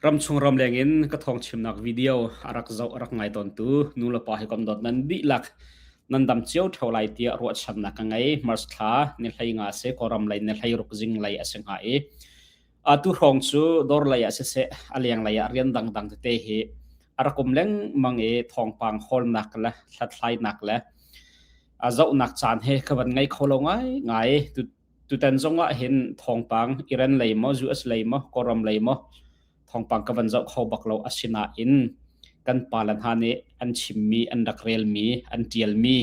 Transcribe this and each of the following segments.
Ramchung ramleng in ka thawngchimnak video a rak zoh a rak ngai tawntu nu le pa hi kom dot nan dihlak nan dam cio ṭheo lai tiah ruahchannak ka ngei. March thla ni hlei nga a si, Kawlram lei ni hlei ruk zing lei a si hnga i atu hrawng cu dawr lei ah siseh, a leng lei ah rian dangdang tete hi a rak um lengmang i thawngpang hawlnak le hlathlainak le a zohnak caan he ka van ngei kho lo ngai ngai. Tutan zong ah hin thawngpang Iran lei maw US lei maw Kawlram lei maw thawngpang ka van zoh kho bak lo asinain kan pale hna nih an chimmi an rak relmi an tialmi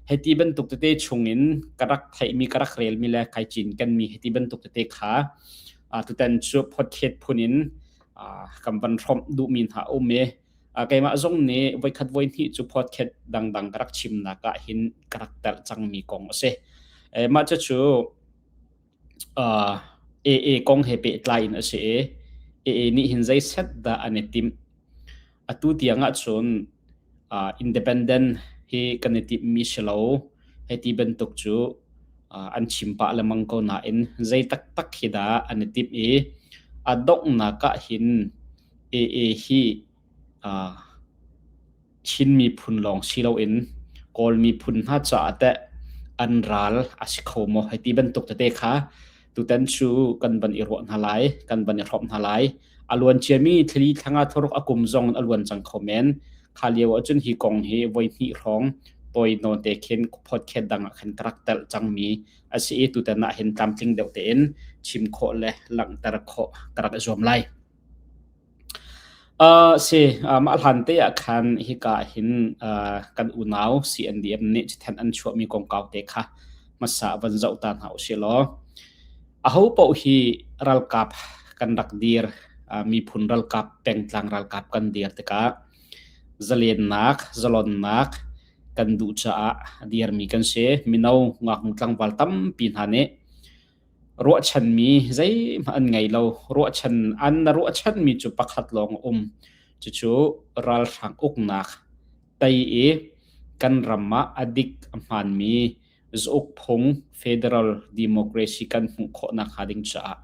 hei ti bantuk tete chungin ka rak theihmi ka rak relmi le kai cinkenmi hei ti bantuk tete kha tutan cu phothet phun in kan van hrom duhmi hna um i keimah zong nih voikhat voihnih cu podcast dangdang ka rak chimnak ah hin ka rak telh cangmi kong a si. mah cucu AA kong he pehtlai in a si i AA nih hin zei set dah an i timh. Atu tiang ahcun independent hi kan i timhmi si lo. Hei ti bantuk cu an chim pah lemang ko nain zei taktak hi dah an i timh i a donghnak ah hin AA hi Chin miphun lawng si loin Kawl miphun hna caah teh an ral a si kho maw hei ti bantuk tete kha tutan cu kan van i ruah hna lai kan van i hrop hna lai a luan ciami thli thlanga thuruk a kum zong a luan cang kho men kha lio ahcun hi kong hi voi hnih hrawng toi note khen podcast dang ah khan tarak tel changmi asi i tutan ah hin tlamtling deuh tein chim khawh le langhter khawh tarak zuam lai A si, mah hlante ahkhan hika ahhin kan unau CNDM nih cithen an chuahmi kongkau te kha hmasa van zoh ta hna usihlaw, ahopaoh hi ralkap kan rak dir, miphun ralkap, pengtlang ralkap kan dir tikah zalennak, zalonnak kan duh caah dirmi kan si. Mino, ngaknu, tlangval tampi hna nih Ruahchanmi zeihmanh an ngei lo. Ruahchan an na ruahchanmi cu pakhat lawng a um. Cucu ralhrang uknak tei i kan ram ah a dik a hmaanmi zauk phung federal democracy kan hmuh khawh nakhnga ding caah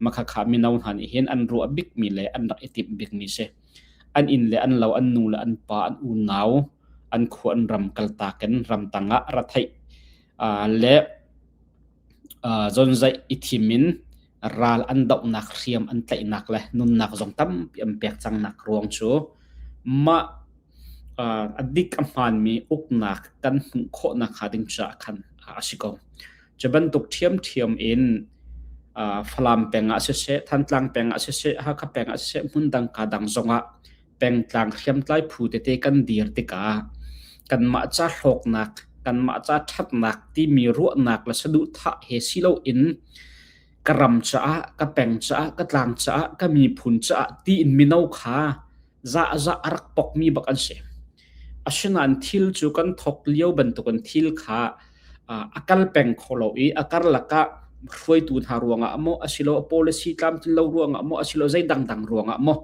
makhakha mino hna nih hin an ruah bikmi le an rak i timh bikmi si. An inn le an lo, an nu le an pa, an unau, an khua an ram kaltak in ramtang ah ra theih le zonzaih i thim in ral an dohnak hriam an tlaihnak le nunnak zong tampi an pek cangnak ruang cu mah a dik a hmaanmi uknak kan hmuh khawh nakhnga ding caah khan a si ko. Cu bantuk ṭhiamṭhiam in Falam peng ah siseh, Thantlang peng ah siseh, Hakha peng ah siseh, hmun dang kaa dang zongah pengtlang hriamtlai phu tete kan dir tikah kanmah ca hlawknak kanmah ca ṭhatnak timi ruahnak le saduhthah he si loin ka ram caah ka peng caah ka tlang caah ka miphun caah tiin mino kha za za a rak pokmi bak an si. Asinain thil cu kan thawk lio bantukin thil kha a kal peng kho lo i a karlak ah hruaitu hna ruangah maw asilo a policy tlamtlinlo ruangah maw asilo zei dangdang ruangah maw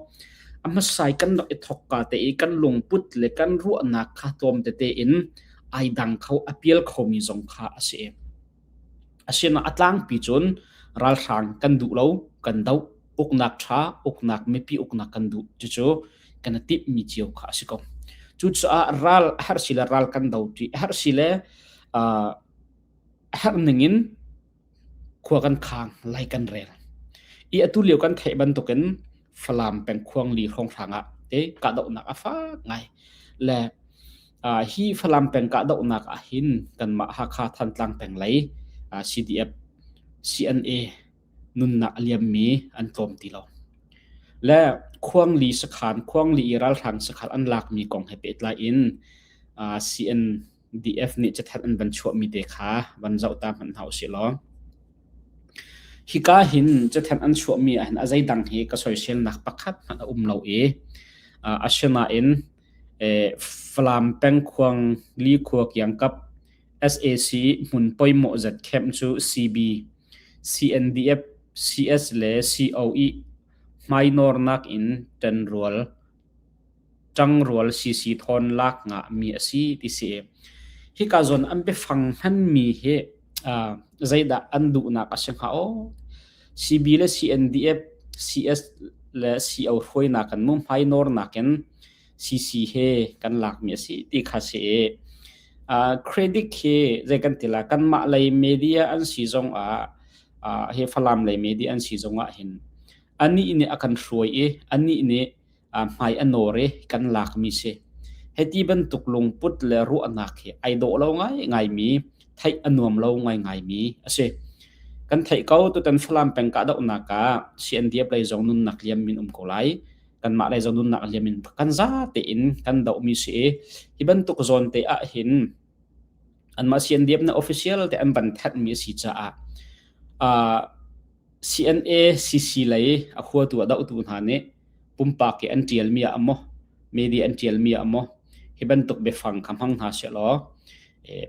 a hmasa i kan rak i thawk ka te i kan lungput le kan ruahnak kha tlawm tete in ai dang kho, a pial khomi zong kha a si. Asinak a tlangpi cun ralhrang kan duh lo, kan doh. Uknak ṭha, uknak mipi uknak kan duh. Cucu kan i timhmi cio kha a si ko. Cucaah ral a herh si le ral kan do ṭi a herh si le uh, a herh ning in khua kan khang, lai kan rel. I atu lio kan theih bantukin Falam pengkhuang li hrawnghrang ah te kahdohnak a fak ngai. Le hi Falam peng kahdohnak ah hin kanmah Hakha Thantlang peng lei CDF CNA nunnak a liammi an tlawm ti lo le khuangli sakhan khuangli i ralhrang sakhal an lakmi kong he pehtlai in CNDF nih cathat an van chuahmi te kha van zoh ta hmanh hau si law hika hin cathat an chuahmi ah hin a zeidang hi ka soisel nak pakhat hmanh a um lo i asinain Falam pengkhuang likhua kiangkap sac hmun poimawh zat camp cu CB, CNDF, CS le COE hmainawr nakin ṭanrual, ṭangrual CC thawn lak ngahmi a si ti si. Hika zon an biafang hmanmi hi zeidah an duhnak a si hnga aw? CB le CNDF, CS le CO hruainak kan muhmai nawrnak in CC he kan lakmi a si ti kha si i uh, credit khi zei kan tila kanmah lei media an si zong ah uh, he falam lei media an si zong ah hin ani nih a kan hruai i ani nih hmai a nawr i kan lakmi si. Hiti bantuk lungput le ruahnak hi ai dawh lo ngaingai mi, theih a nuam lo ngaingai mi a si. Kan theih ko tutan Falam peng kahdohnak ah CNDF lei zong nunnak liam min um ko lai. Kanmah lei zong nunnak liam min kan zate in kan dohmi si i hi bantuk zawn te ah hin Anmah siandiam na official te an van thanhmi a si caah uh, CNACC lei a khuatu a dohtu hna nih pumpak hi an ṭialmi ah a maw media an ṭialmi ah a maw hi bantuk biafang kha hmang hna sih law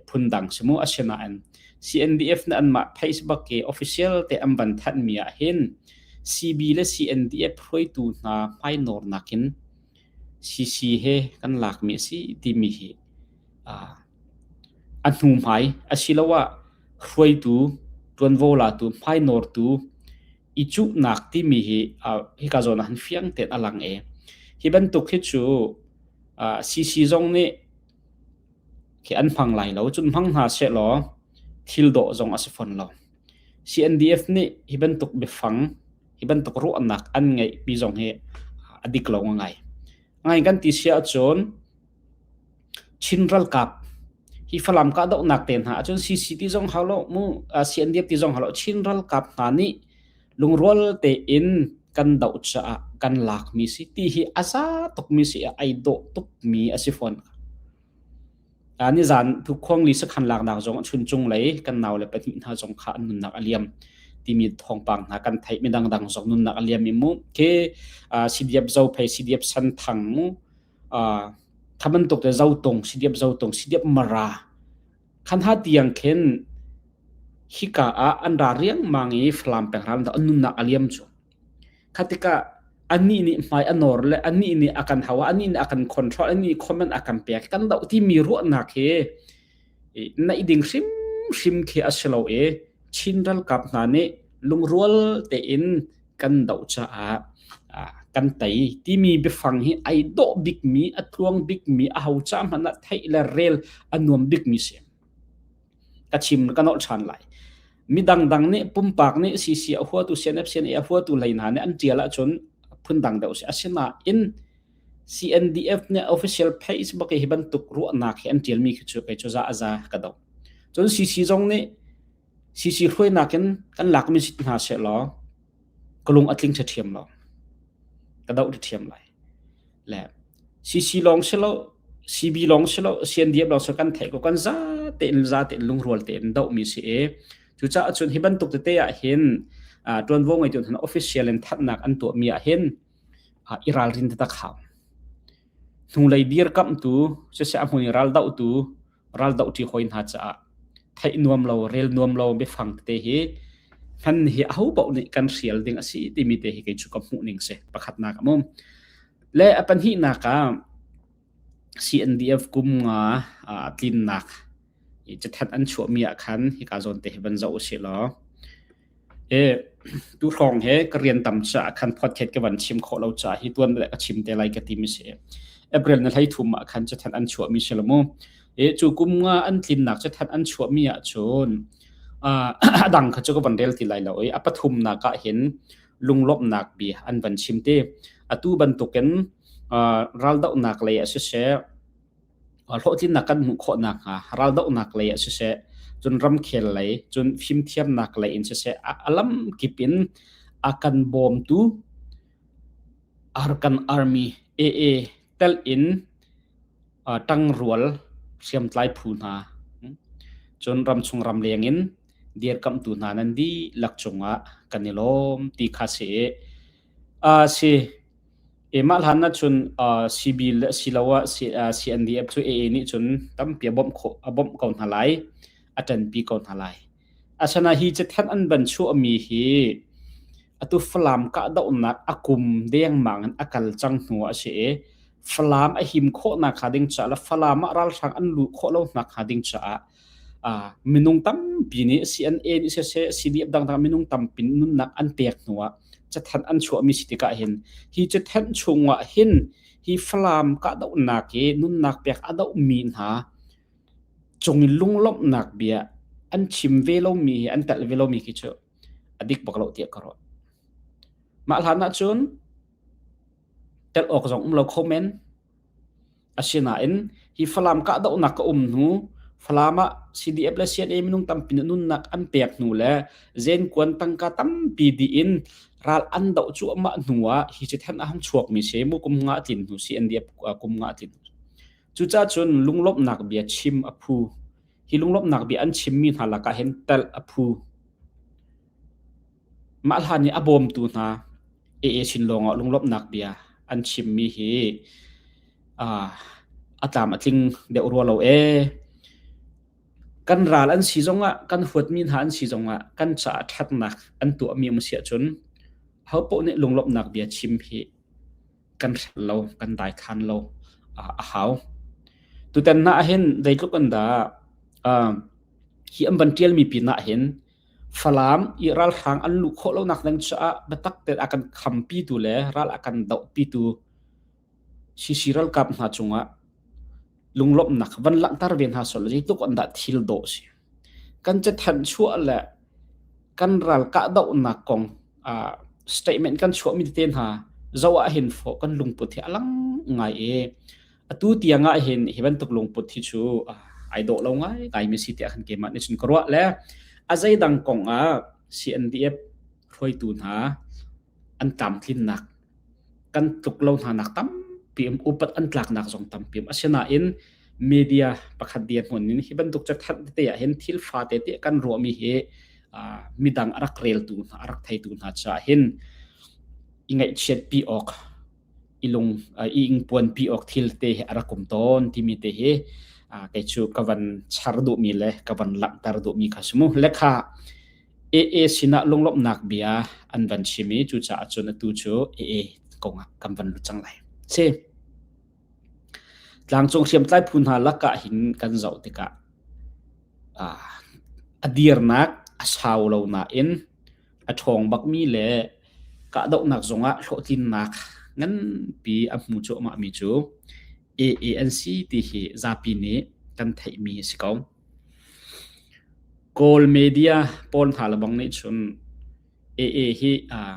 phundang si mu asinain CNDF na anmah Facebook ke official te an van thanhmi ah hin CB le CNDF hruaitu hna hmainawr nakin CC he kan lakmi a si timi hi a hnuhmai asiloah hruaitu, ṭuanvo latu, hmai nawrtu i cuhnak timi hi hika zawn ah han fiang tein a lang ee. Hi bantuk hi cu CC zong nih khi an hmang lai lo. Cun hmang hna sehlaw thil dawh zong a si fawn lo. CNDF nih hi bantuk biafang hi bantuk ruahnak an ngeihmi zong hi a dik lo ngai. Ngai kan ti si ahcun Chin ralkap hi Falam kahdohnak te hna ahcun CCT zong halo mu uh, CNDF ti zong halo Chin ralkap hna nih lungrual tein kan doh caah kan lak mi si ti hi a za tuk mi si a ai dawh tuk mi a si fawn. nizaan thukhuang li sakhan laknak zong a chun cunglei kan nau le pahnih hna zong kha an nunnak a liam timi thawngpang hna kan theih mi dangdang zong nunnak a liam mi mu ke CDF zo phei CDF san thang mu thaman tuk te zo tong CDF zo tong CDF mara khan ha tiang khen hika ah an ra riang mang i flam peng ram da nunnak a liam chu Kha tikah anih nih hmai a nawr le anih nih a kan hau a, anih nih a kan control, anih nih comment a kan pek, kan doh timi ruahnak hi naih ding hrimhrim khi a si lo i Chin ralkap hna nih lungrual tein kan doh caah kan tei timi biafang hi ai dawh bikmi, a tluang bikmi, aho ca hmanh ah theih le rel a nuam bikmi si. ka chim ka nolh ṭhan lai mi dangdang nih pumpak nih CC a huatu CNF CNA a huatu lei hna nih an ṭial ahcun phun dang deuh si asinain CNDF nih official Facebook hi bantuk ruahnak hi an ṭialmi khi cu kei cu za a za ka do cun CC zong nih CC hruainak in kan lakmi sit hna se law kalung a tling ṭha ṭhiam lo ka do ṭhiam lai le CC lawng si lo, CB lawng si lo, CNDF lawng si lo, kan theih ko kan zate in zate in lungrual te in dohmi si i cucaah cun hi bantuk tete ah hin ṭuanvo ngeitu hna official in thatnak an tuahmi ah hin i ralrin te tak hau. Hnulei dir kamhtu, siseh a hmui raldohtu raldoh ṭi hawi hna caah theih nuam lo rel nuam lo biafang te hi hman hi a ho paoh nih kan hrial ding a si timi te hi kei cu ka hmuh ning si pakhatnak a mum le a pahnihnak ah CNDF kum nga tlinnak i chathat an chuahmi ah khan hika zawn te hi van zoh u si law Tuhrawng he ka rian tam caah khan podcast ka van chim khawh lo caah hi tuan le ka chim te lai ka ti mi si. April na hleithum ah khan cathan an chuah mi si lo mu. Cu kum nga an tlinnak cathan an chuah mi ah cun a dang kha cu ka van rel ti lai lo i a pathum nak ah hin lunglawmhnak bia an van chim te. Atu bantukin raldohnak lei ah siseh, hlawhtlinnak kan hmuh khawh nakhnga raldohnak lei ah siseh cun ramkhel lei cun fimthiamnak lei in siseh a lamkip in a kan bawmtu Arkan Army AA tel in tangrual hriamtlai phu hna cun ramchung ramleng in dirkamhtu hna nan dihlak cungah kan i lawm ti kha si i a si. Keimah hlan ahcun uh, CBIL asiloah CNDF cu AA nih cun tampi a bawmh khawh a bawmh ko hna lai. A ṭanpi ko hna lai. Asinain hi cithan an van chuahmi hi atu Falam kahdohnak a kum dengmang in a kal cang hnu a si i Falam a him khawhnak hnga ding caah le Falam ah ralhrang an luh khawh lonak hnga ding caah minung tampi nih CNN siseh CBF dangdang minung tampi nunnak an pek hnu ah cathanh an chuahmi si tikah hin hi cathanh chung ah hin hi Falam kahdohnak i nunnak pek a dohmi hna cung in lunglawmhnak bia an chim ve lomi hi an telh ve lomi khi cu a dik bak lo tiah ka rawt mah hlan ahcun tel awk zong um lo kho men Asinain hi Falam kahdohnak a um hnu Falam ah CDF le CNA minung tampi nih nunnak an pek hnu le zenkuan tangka tampi dih in ral an doh cuahmah hnu ah hi cu than a han chuakmi si mu kum nga tlin hnu CNDF kum nga tlin hnu cucah cun lunglawmhnak bia chim a phu hi lunglawmhnak bia an chimmi hna lakah hin telh a phu Mah hlan i a bawmtu hna EA sin lawngah lunglawmhnak bia an chimmi hi uh, a tlam a tling deuh rua lo ee. Kan ral an si zongah, kan huatmi hna an si zongah kan caah ṭhatnak an tuahmi um si ahcun ho poh nih lunglawmhnak bia chim hi kan hrel lo, kan daikhan lo uh, a hau. Tutan hna ahhin zeitluk an dah uh, hi an van ṭialmi pinah hin Falam i ralhrang an luh khawh lonak ding caah biatak tein a kan khampitu le ral a kan dohpitu CC ralkap hna cungah lunglawmhnak van langhter ve hna sawlaw zeitluk in dah thil dawh a si. Kan ca thanh chuah le kan ral kahdohnak kong uh, statement kan chuahmi tete hna zo ah hin fawh kan lungput hi a lang ngai i atu tiang ah hin hi bantuk lungput hi chu ai do lo ngai ngai mi si te khan ke ma ni chun karwa le azai dang kong a CNDF hruaitu hna an tam tlin nak kan tluk lo hna nak tam pim upat an tlak nak zong tam pim asina in media pakhat dia hmun in hi bantuk chak that te ya hin thil fa te te kan ro mi hi midang arak rel tu hna arak thai tu hna cha hin ingai chiat pi ok i lung i ingpuan pi awk thil te hi a rak um tawn timi te hi kei cu ka van char duhmi le ka van langhter duhmi kha si mu lekha AA sinah lunglawmhnak bia an van chimi cu caah cun atu cu AA kongah kan van lut cang lai si tlangcung hriamtlai phu hna lakah hin kan zoh tikah a dirnak a sau lo nain a ṭhawng bakmi le kahdohnak zongah hlawhtlinnak nganpi a hmu cuahmah mi cu AA an si ti hi zapi nih kan theihmi a si ko. Kawl media pawl hna lebang nih cun AA hi uh,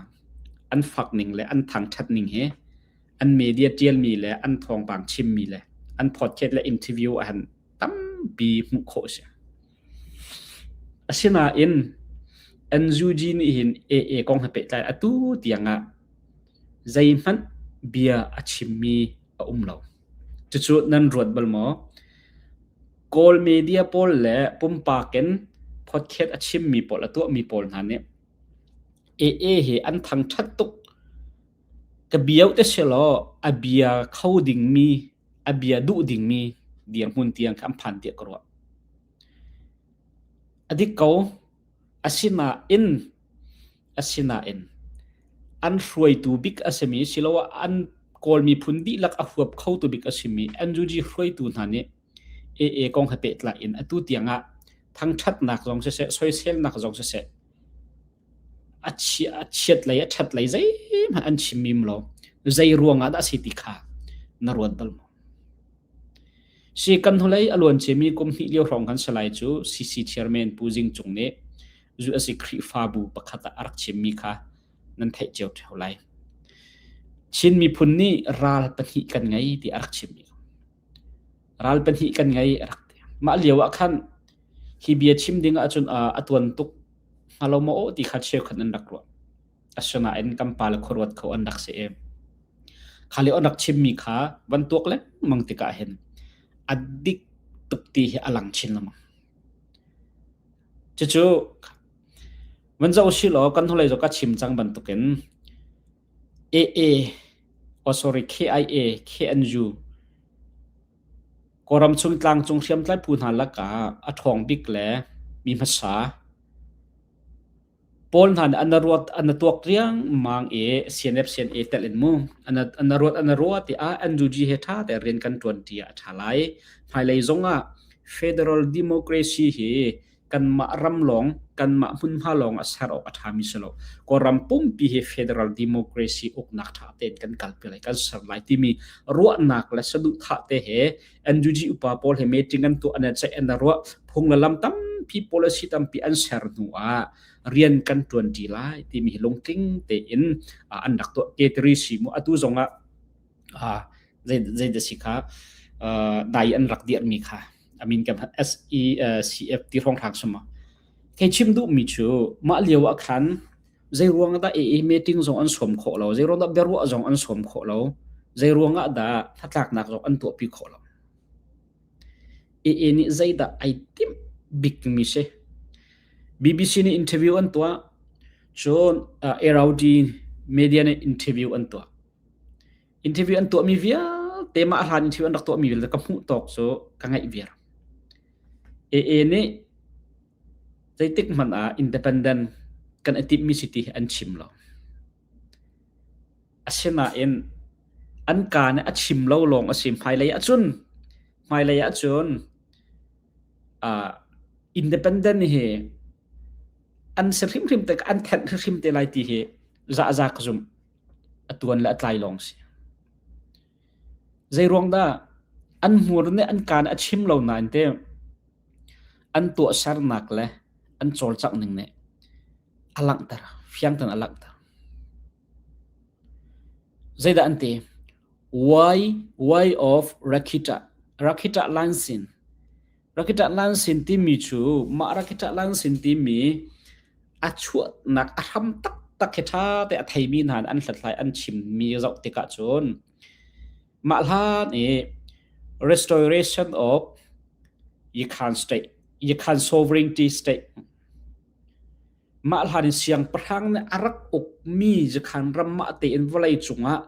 an fak ning le an thangṭhat ning hi an media ṭialmi le an thawngpang chimmi le an podcast le interview a han tampi hmuh khawh a si. Asinain NUG nih hin AA kong he pehtlai atu tiangah zeihmanh bia a chimmi a um lo. Cucu nan ruat bal maw? Kawl media pawl le pumpak in podcast a chimmi pawl, a tuahmi pawl hna nih AA hi an thangṭhat tuk. Ka bia uh ti sihlaw a bia kho dingmi, a bia duh dingmi dirhmun tiang kha an phan tiah ka ruah. A dik ko, asinain, asinain an hruaitu bik a simi siloah an Kawl miphun dihlak a huap khotu bik a simi NUG hruaitu hna nih AA kong he pehtlai in atu tiang ah thangṭhatnak zong siseh, soiselnak zong siseh a chiat lei a ṭhat lei zeihmanh an chim im lo. Zei ruangah dah a si ti kha na ruat bal maw? Si kan hnulei a luan ciami kum hnih lio hrawng kan salai cu CC chairman Pu Zing Cung nih zu a si Khrihfabu pakhat ah a rak chimmi kha nan theih cio ṭheo lai. Chin miphun nih ral pahnih kan ngei ti a rak chimmi. ral pahnih kan ngei a rak ti. Mah lio ah khan hi bia chim ding ahcun ah a tuan tuk hnga lo maw ti kha cheukhat an rak ruah. Asinain kan pa le khuaruat kho an rak si em. Kha le an rak chimmi kha van tuak lengmang tikah hin a dik tuk ti hi a lang chin lemang. Cucu van zoh u si law kan hnulei zo ka chim cang bantukin Aa oh sorry KIA K N U Kawlram chung tlangcung hriamtlai phu hna lakah a ṭhawng bik le mi hmasa pawl hna nih an ruat an tuak riangmang i CNF CNA telh in mu an ruat an ruat i ah NUG he ṭha tein rian kan ṭuanṭi ah a ṭha lai. Hmailei zong ah Federal Democracy hi kanmah ram lawng kanmah hmunhma lawng a ser awk a ṭhami si lo Kawlram pumpi hi federal democracy uknak ṭha tein kan kalpi lai kan ser lai timi ruahnak le saduhthah te he NUG upa pawl he meeting an tuah an ceih an ruah phung le lam tampi policy tampi an ser hnu ah rian kan ṭuanṭi lai timi hi lungtling tein an rak tuah ke tiri si mu atu zong ah zeidah si kha dai an rak dirmi kha I mean kan SECF ti hrawng thlak suma kei chim duh mi cu mah lio ah khan zei ruang dah e meeting zong an sawm khawh lo zei ruang dah biaruah zong an sawm khawh lo zei ruang ah dah hnatlaknak zong an tuah pi khawh lo e nih zei dah ai tim big mi se BBC ni interview an tua cun uh, Eraudi media ni interview an tua interview an tuahmi vialte mah hlan interview an rak tuahmi vialte ka hmuh tawk cu ka ngaih viar AA nih zeitik hmanh ah independent kan i timhmi city an chim lo asinain an ka nih a chim lo lawng a si hmailei ah cun hmailei ah cun uh, independent hi an se hrimhrim te an thenh hrimhrim te lai ti hi za za ka zum a tuan le a tlai lawng si. Zei ruang dah an hmur nih an kaan a chim lo nain te an tuahsernak le an cawlcangh ning nih a langhter, fiang ten a langhter. Zeidah an ti? Why, why of Rakhicha, Rakhicha Line Sin. Rakit ahlan sin timi cu mah rakit ahlan sin timi a chuahnak a hram taktak hi ṭha te a theimi hna nih an hlathlai an chimmi zoh tikah cun mah hlan i restoration of Yikan state Yikan sovereignty state Mah hlan siangpahrang nih a rak ukmi cu khan ramah tein vawlei cungah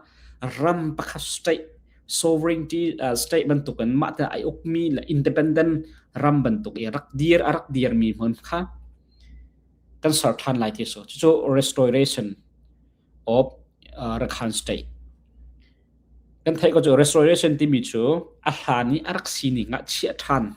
ram pakhat state sovereignty uh, state bantuk in mah te ai ukmi le independent ram bantuk i rak dir a rak dirmi hmun kha kan ser than lai ti so cu restoration of uh, Rakhan state kan theih ko cu restoration timi cu a hlan i a rak sining ah chiah than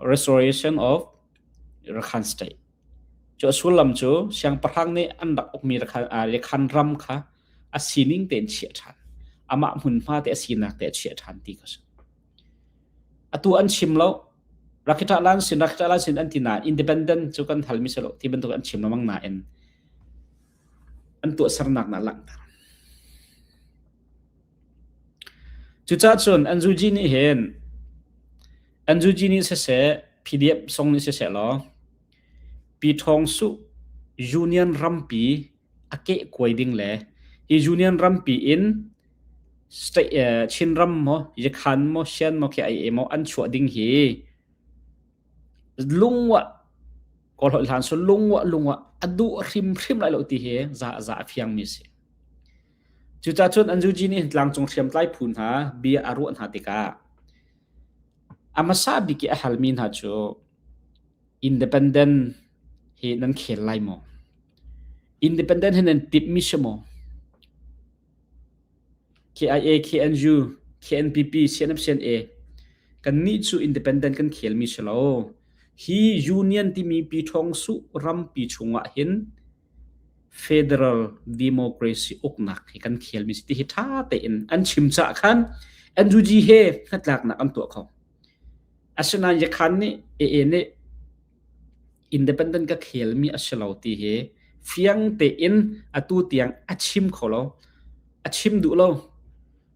Restoration of Rakhine State. Cu a sullam cu siangpahrang nih an rak ukmi Rakhine ram kha a sining tein chiah ṭhan. Amah hmunhma te a sinak te a chiah ṭhan ti kha si. Atu an chim lo. Rakhiṭahlan sin, Rakhiṭahlan sin an ti na independent cu kan halmi si lo ti bantuk an chim lamang nain an tuahsernak na langhter. Cucahcun Anzuji nih hin Anzuji nih siseh PDF song nih siseh law Pi Ṭhawng Suh Union rampi a kehkuai ding le hi Union rampi in state eh, Chinram maw Yakhan maw Shan maw khi ai e maw an chuah ding hi lungwa Kawlhawi hlan sun lungwa lungwa a duh hrimhrim lai lo ti hi za za a fiang mi si. Cucacun an zuji nih tlangcung hriamtlai phu hna bia a ruah hna tikah a hmasa bik i a halmi hna cu independent hi nan khel lai maw? Independent hi nan timhmi si maw? KIA, KNU, KNPP, CNMCNA kannih cu independent kan khelmi si lo. Hi union timi pi ṭhawng suh rampi chungah hin federal democracy uknak hi kan thialmi si ti hi ṭha tein an chim caah khan NUG he hnatlaknak an tuah kho asinain yakhan nih AA nih independent ka khelmi a si lo ti hi fiang tein atu tiang a chim kho lo a chim duh lo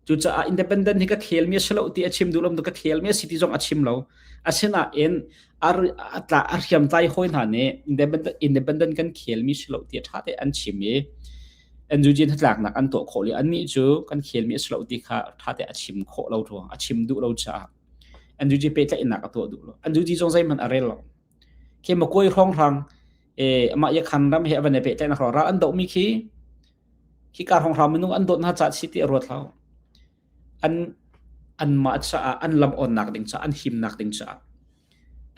Cucaah independent hi ka thelmi a si lo ti a chim duh lo ka thelmi a si ti zong a chim lo. Asinain a a hriamtlai hawi hna nih independent independent kan khelmi si lo ti a ṭha te an chim i an Eugene hnatlaknak an tuah khawh le annih cu kan khelmi a si lo ti kha ṭha te a chim khawh lo ruang a chim duh lo caah Andrew G pehtlaihnak a tuah duh lo Andrew G zong zeihmanh a rel lo Chemakawi hrong hrang amah yakhan ram he avan i pehtlaihnak hrong ra an dohmi khi hika hrong hrang minung an dawt hna caah si ti a ruat hau. An an mah caah an lam onnak ding caah an himnak ding caah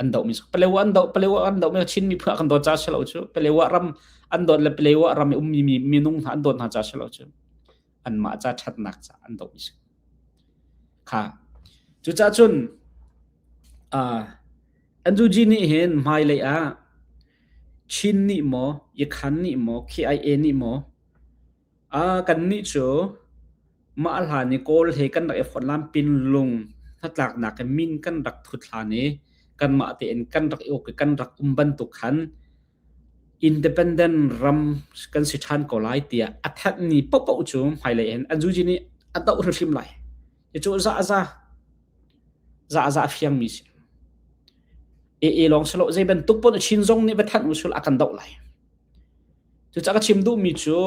an dohmi cu Palewa an doh Palewa an dohmi Chinmi phua kan dawt ca si lo cu Palewa ram an dawt le Palewa ram i ummi minung hna an dawt hna ca si lo cu anmah ca ṭhatnak ca an doh i kha cucah cun Andrew G nih hin hmailei ah Chin nih maw Ikhan nih maw KIA nih maw kan nih cu mah hlan i kawl he kan rak i fon lam pin lung hnatlaknak in min kan rak thut hlan i kanmah tein kan rak i uk i kan rak um bantuk khan independent ram kan si ṭhan ko lai tiah a thanhmi paohpaoh cu hmailei hin an zuji nih a doh hrimhrim lai. Hi cu zahza zahza fiangmi si. AA lawng si lo zei bantuk pun a chin zong nih va thanh usul a kan doh lai. Cucah ka chim duhmi cu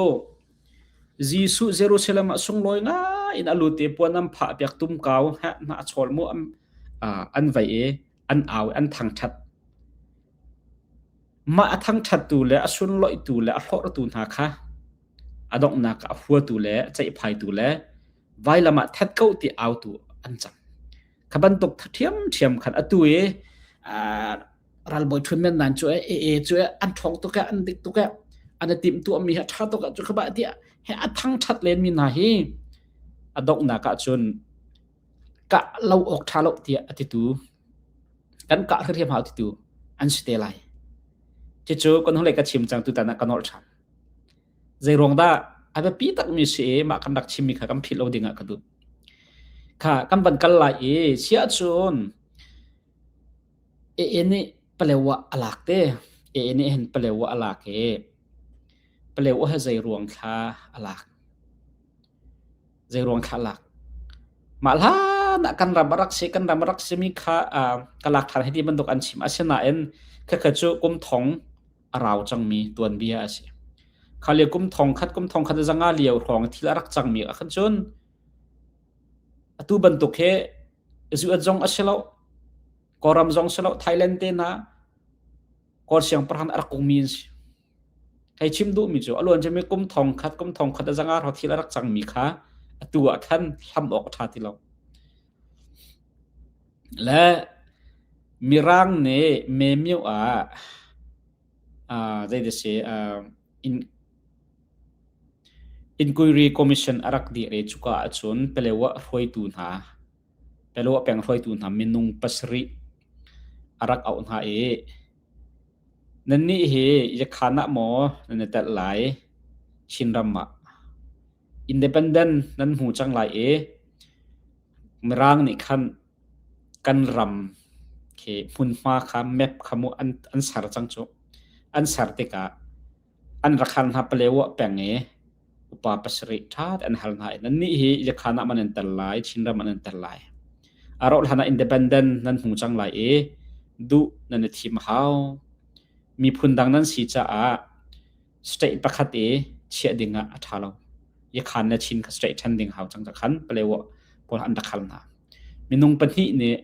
Jesuh Jerusalem ah sunglawi na in a lut i puan am phah piak tum kau heh na a chol mu am an vai e an au i an thangṭhat. Mah a thangṭhattu le a sunloihtu le a hlawhratu hna kha a donghnak ah a huatu le a ceihphaitu le vailam ah that ko ti autu an cang. Kha bantuk ṭhiamṭhiam khan atu i uh, ralbawi ṭhun men nan cu e e cu e an ṭhawng tuk e an dik tuk e an i timh tuahmi hi a ṭha tuk e cu kha ba ti he a thangṭhat len mi hna hi a donghnak ah cun kah lo awk ṭha lo tiah a titu kan kah hriam hau titu an si te lai. Cucu kan hnulei ka chim cang tutan ah ka nolh ṭhan. Zeiruang dah a biapi takmi si i mah kan rak chimmi kha kan philh lo dingah ka duh. Kha kan van kal lai i sia cun e nih palewa a lak te e nih hen palewa a lak i palewa he zei ruang thla a lak zeiruang thlah lak. Mah hlan ah kan ram a rak si, kan ram a rak simi kha uh, ka lak than hiti bantuk an chim. Asinain khakha cu kum thong a rau cangmi tuanbia a si. Khalia kum thong khat kum thong khat zanga liau hrawng thil a rak cangmi a khan cun atu bantuk he zuat zong a si lo koram zong si lo thailand te na kor siang parhan arak kung min si Hei chim duh mi cu a luan mi kum thong khat kum thong khat a zang ah ro thil a rak cang mi kha a tu ah khan hlam awk a ṭha ti lo. Le mirang nih memio ah uh, zei da si uh, in inquiry commission a rak dih re cuka ah cun pelewa hruaitu hna Pelo a peng hruaitu hna minung pasarih a rak auh hna i, Nannih hi Yakhan ah maw nan i telh lai? Chinram ah. Independent nan hmu cang lai i Mirang nih khan kan ram khi hmunhma kha map kha mu an, an ser cang cu. An ser tikah an rak hal hna paleo ah peng i upa pasarih ṭhat an hal hna i nannih hi Ilekhran ah man an tel lai, Chinram an an tel lai. A rauh hlan ah independent nan hmu cang lai i duh nan i thim a hau. Miphun dang nan si caah state pakhat i chiah ding ah a ṭha lo. Ikhan le Chin kha state ṭhan ding hau cang cakhan paleo ah pawl an rak hal hna. Minung pahnih nih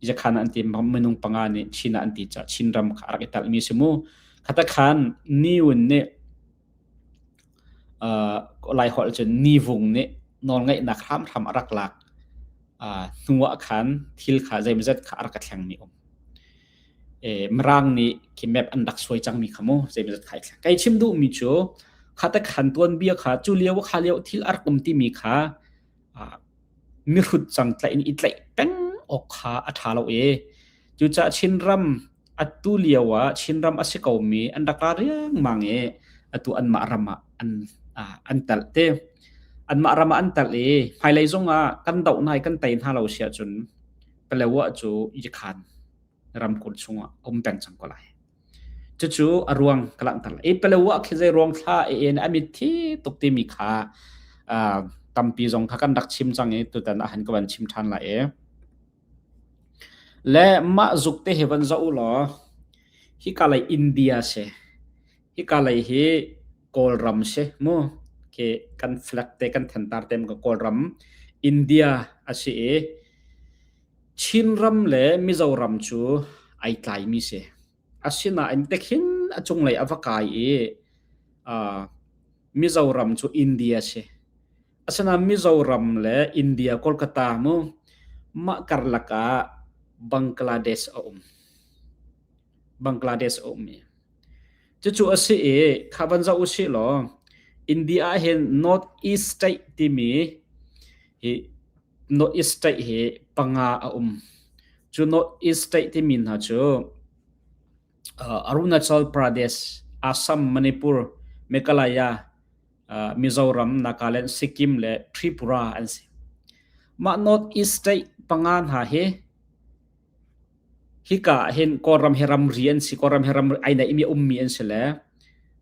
zakhan ah an ti minung panga nih Chin ah an ti caah Chin ram kha a rak i telhmi a si mu. Khata khan Ni Wun nih uh, Lai holh cun Ni Vung nih nawlngeihnak hramhram a rak lak uh, hnu ah khan thil kha zeimazat kha a rak ka thlengmi um. E, Mirang nih khi map an rak suai cangmi kha mu zeimazat kha i thleng. Kai chim duhmi cu khata khan tuan bia kha cu lio kha lio thil a rak um timi kha mihrut cangtlaih in i tlaih peng awk kha a ṭha lo i cucaah Chinram atu lio ah Chinram a si komi an rak ra riangmang i atu anmah ram ah an an telh te anmah ram ah an telh i hmailei zong ah kan doh nai kan tei hna lo si ahcun Palawa cu i khan ramkulh chungah a um peng cang ko lai. Cucu a ruang ka langhter lai. E palo ah khi zei ruang thla e en a mit thi tuk timi kha uh, tampi zong kha kan rak chim cang i tutan a han ka van chim than la e. Le mah zuk te he van za u law hi ka lei India se hi ka lei hi Kawlram se mu ke kan flag te kan thentar tem ka Kawlram India asi e Chinram le Mizoram cu ai tlaimi si. Asinain tikhin a cunglei a va kai i aa Mizoram cu India si. Asinain Mizoram le India Kolkata mu mah karlak ah Bangladesh a um. Bangladesh a ummi. Cucu a si i kha van zoh u sih law India ah hin North East State timi hi North East State hi panga a um. Cu North East State timi hna cu uh, Arunachal Pradesh, Assam, Manipur, Meghalaya, uh, Mizoram, Nagaland, Sikkim le Tripura an si. Mah North East State panga hna hi Hika ah hin Kawlram hi ramri an si, Kawlram hi ramri ai naihmi a ummi an si le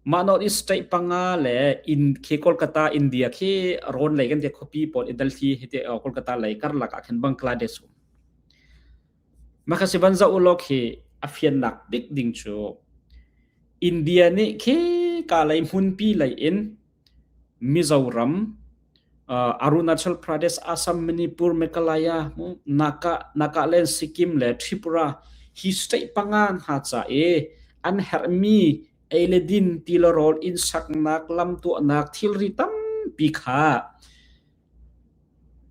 mah North East state panga le in khi Kolkata India khi rawn lei kan te khuapi pawl i Delhi hi te Kolkata lei karlak ah khan Bangladesh um Makhasi banza ulok hi a fiannak bik ding cu India nih khi ka lei hmunpi lei in Mizoram Arunachal Pradesh, Assam, Manipur, Meghalaya, Naka, Nagaland, Sikkim le Tripura hi state panga hna ca i an herhmi ei le din tilarawl inn saknak lam tuahnak thilri tampi kha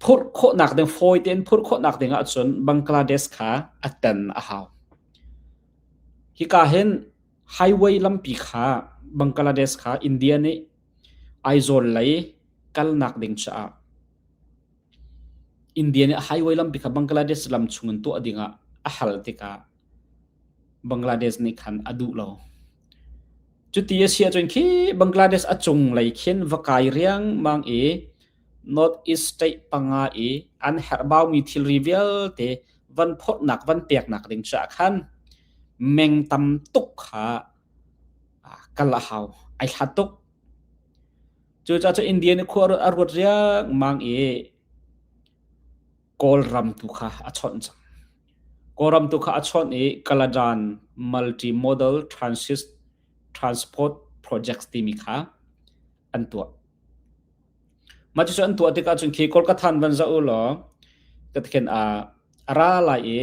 phurh khawhnak ding fawi tein phurh khawhnak ding ahcun Bangladesh kha a tan a hau. Hika hin Highway lampi kha Bangladesh kha India nih Aizawl lei kalnak ding caah India nih highway lampi kha Bangladesh lam chung in tuah ding ah a hal tikah Bangladesh nih khan a duh lo. Cuti a si ahcun khi Bangladesh a cung lei khin va kai riangmang i North East state panga i an herhbaumi thilri vialte van phawtnak van peknak ding caah khan Meng tam tuk kha kal a hau. Ai hlat tuk. Cucaah cu India nih khua a ruat riangmang i Kawlram tu kha a chawnh cang. Kawlram tu kha a chawnh i Kaladan Multi-Modal Transport Projects timi kha an tuah. Mah cucu an tuah tikah cun khi Kolkatha in van zoh u law, ka thlen a ra lai i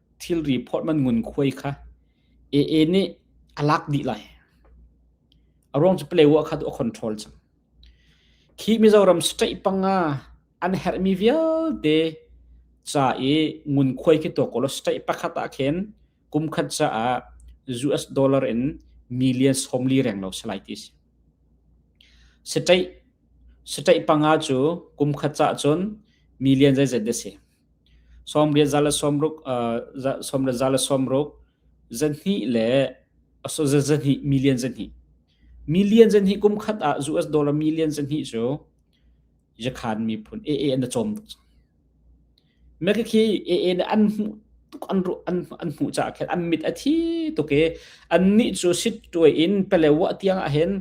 thilri phorhman ngunkhuai kha AA nih a lak dih lai. A ruang cu player kha tu a control cu. Khi Mizoram straight panga an herhmi vialte ca i ngunkhuai khi to kolo straight pakhat ah khin kum khat caah US dollar in million som li reng lo salai ti si. Straight straight panga cu kum khat ca cun million zeizat de si. Sawmriat za le sawmruk sawmriat za le sawmruk zahnih le so zahnih million zahnih million zahnih kum khat ah US dollar million zahnih cu yakhan miphun AA an cawm tuk me khi AA ne an hmuh tuk an ru an an hmuh ca khin an mit a thi tuk i an ni cu sit tuai in pele wa tiang a hen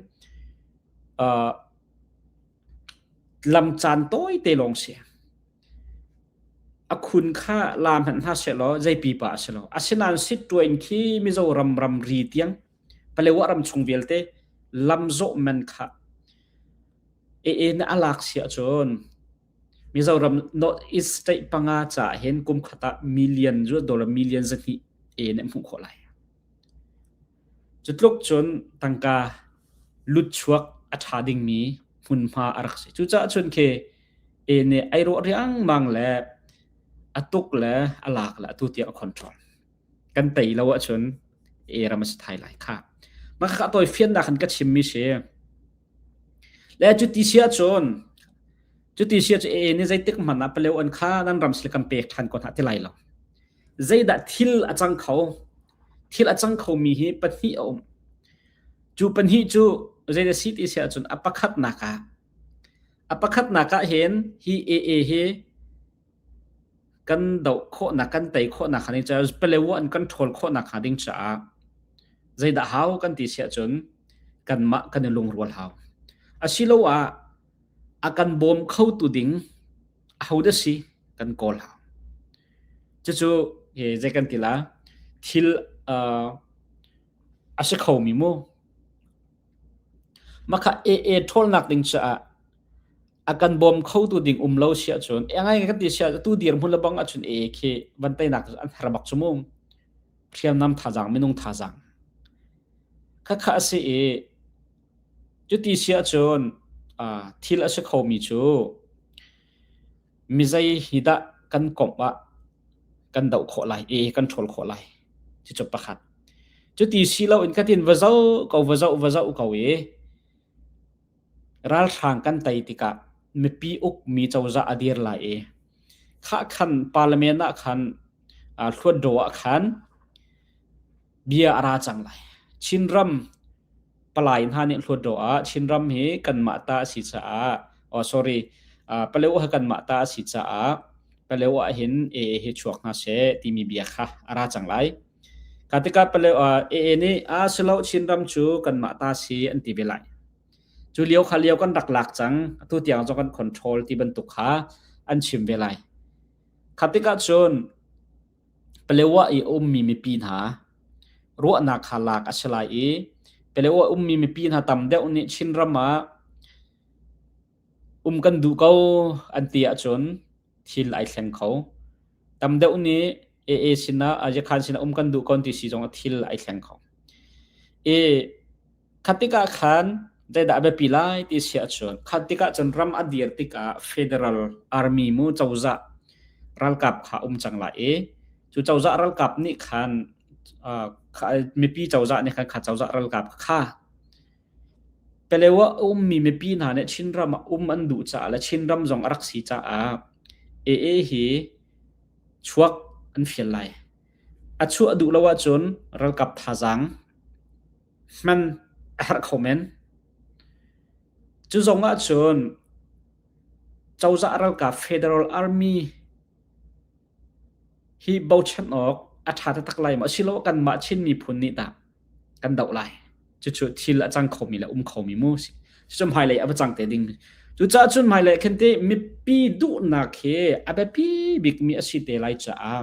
lam caan tawi te lawng si A khun kha la hmanh hna sehlaw zei pipa a si lo. Asinain sitṭua in khi Mizoram ramri tiang Palewa ram chung vialte lamzawh man kha ee na alak siah cun Mizoram North East state panga ca hin kum khat ah million, dollar million zahnih ee na hmuh khawh lai. Cutluk cun tangka lutchuak a ṭha dingmi hmunhma a rak si. Cucaah cun khi e nih ei rawh riangmang le a tuk le a lak le atu tiang a control. Kan tei lo ahcun e ram a si thai lai kha. Mah kha tawi fiannak in ka chimmi si. Le cuti si ahcun cuti si ahcun e nih zeitik hmanh ah paleo an kha nan ram sile kan pek ṭhan ko hna ti lai lo. Zeidah thil a cang kho? thil a cang khomi hi pahnih a um. Cu pahnih cu zei na si ti si ahcun a pakhatnak ah a pakhatnak ah hin hi AA hi kan do khawhnak kan tei khawhnak hnga ding caah pelewa an control khawhnak hnga ding caah zeidah hau kan ti si ahcun kanmah kan i lungrual hau asiloah a kan bawm khotu ding ahodah si kan kawl hlah. Cucu hi zei kan ti la thil uh, a si khomi mu makha e e ṭholnak ding caah a kan bawm khotu ding um lo sia cun e ngai kan ti sia tu dir mun la bang a chun e khi van tainak an harbak chumung hriam nam thazang minung thazang kha kha a si i Cuti si ahcun uh, thil a si khomi cu mizei hi dah kan komh ah kan doh khawh lai e kan ṭhawl khawh lai ti cu pakhat cuti si lo in katin va zo ko va zo va zo ko i ralhrang kan tei tikah mipi uk mi cozah a dir lai i khah khan parliament ah khan uh, thluat do ah khan bia a ra cang lai. Chinram palai hna nih hluat ro ah Chinram hi kanmah ta a si caah oh sorry uh, paleo ha kanmah ta a si caah paleo ah hin AA hi chuak hna se timi bia kha a ra cang lai. Katika paleo uh, AA nih a silo Chinram cu kanmah ta si an ti ve lai. Cu lio kha lio kan rak lak cang atu tiang zong kan control ti bantuk kha an chim ve lai. Khatika cun Palaeoh ah i a ummi mipi hna ruahnak kha lak a si lai i Palaeoh ah ummi mipi hna tam deuh nih Chinram ah um kan duh ko an ti ahcun thil ai thleng kho. Tam deuh nih AA sinah Ajikhan sinah um kan duh ko an ti si zong ah thil ai thleng kho. I Kha tikah khan zeidah a biapi lai ti si ahcun kha tikah cun ram a dir tikah federal army mu cozah ralkap kha um cang lai i cu cozah ralkap nih khan uh, mipi cozah nih khan kha cozah ralkap kha pelewa ummi mipi hna nih Chin ram ah um an duh caah le Chin ram zong a rak si caah AA hi chuak an fial lai a chuah duh lo ahcun ralkap thazaang hman a herh kho men. Cu zong ahcun cozah ralkap Federal Army hi bochan awk a ṭha taktak lai maw asilo kanmah Chin miphun nih tah kan doh lai cucu thil a cang khomi le um khomi mu si cucu hmailei a va cang te ding cucaah cun hmailei khan ti mipi duhnak hi a biapi bikmi a si te lai caah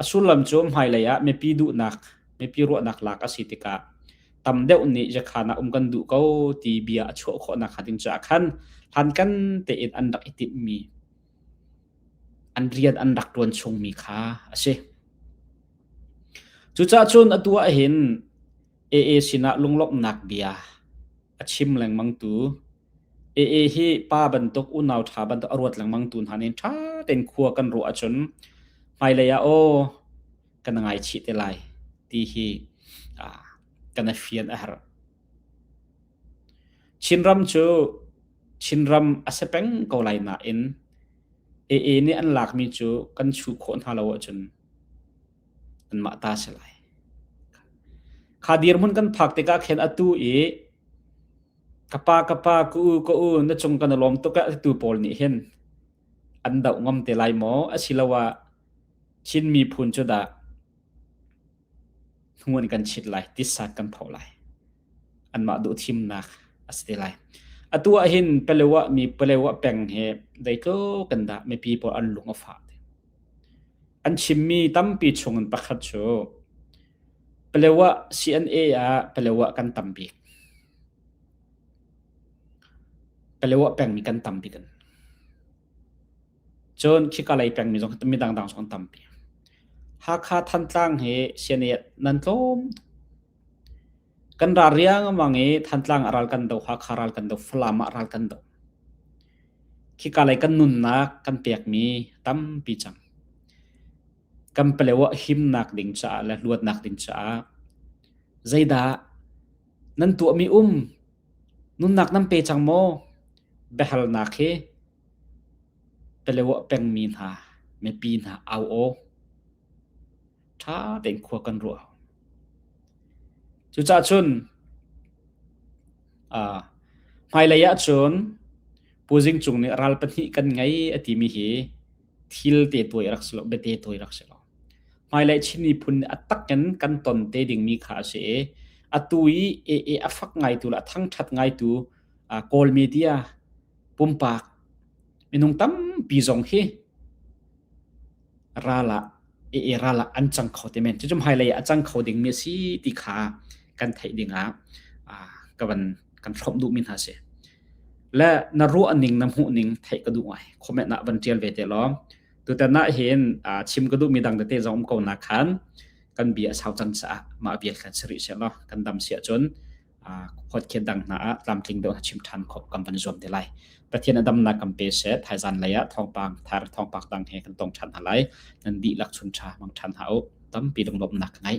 A sullam cu hmailei ah mipi duhnak, mipi ruahnak lak a si tikah tam deuh nih zakhan ah um kan duh ko ti bia a chuah khawhnak hnga ding caah khan hlankan tein an rak i timhmi, an rian an rak ṭuan chungmi kha a si. Cucah cun atu ah hin AA sinah lunglawmhnak bia a chim lengmangtu AA hi pa bantuk unau ṭha bantuk a ruat lengmang tu hna nih ṭha tein khua kan ruah ahcun hmailei ah aw kan ngaichih te lai ti hi ah, kan i fian a har. Chinram cu Chinram a si peng ko lai nain AA nih an lakmi cu kan chuh khawh hna lo ahcun anmah ta si lai. Kha dirhmun kan phak tikah khin atu i Ka pa, ka pa, ka u, ka u, na cung kan i lawm tuk ah tu pawl nih hin an doh ngam te lai maw? Asiloah Chin miphun cu dah hnuan kan chit lai, tisak kan pho lai. Anmah duhthimnak a si te lai. Atu ah hin Pelewa mi Pelewa peng hi dei ko kan dah mipi pawl an lung a fah. An chimmi tampi chungin pakhat cu Palaew ah CNA ah Palaew ah kan tam bik. Palaew ah pengmi kan tam bik an. Cun khika lei pengmi zong mi dangdang zong an tampi. Hakha Thantlang hi CNA nan tlawm tuk. kan ra riangmang i thantlang ah ral kan do ha kha ral kan do falam ah ral kan do khika lei kan nunnak kan pekmi tampi cang kan paleo ah himnak ding caah le luatnak ding caah zeidah nan tuahmi um nunnak nan pe cang maw biahalnak hi paleo pengmi hna mipi hna au aw ṭha tein khua kan ruah. Cucah cun ah, hmailei ah cun Pu Zing Cung nih ral pahnih kan ngei a timi hi thil te tuai a rak si lo, bete tuai a rak si lo. Hmailei Chin miphun nih a tak in kan ton te dingmi kha a si i, atu i ee a fak ngaitu le a thangṭhat ngaitu ah, Kawl media pumpak minung tampi zong hi ral ah i ral ah an cang kho te men cucum hmailei ah a cang kho dingmi a si ti kha kan theih dingah ka van kan hrawm duhmi hna si le na ruah ning na hmuh ning theih ka duh ngai comment ah van tial ve te law tutan na hin chim ka duhmi dang tete zong um ko na khan kan bia sau cang sa ma bia kan sari se lo kan dam sia cun huatkhel dang hna ah tlamtling deuh a chim ṭhan khawh kan van zuam te lai. Pathian a damnak kan pe seh thaizan lei ah thawngpang thar thawngpak dang he kan tong ṭhan hna lai nan dihlak chun ṭha mang ṭhan hna u tampi lunglawmhnak ka ngei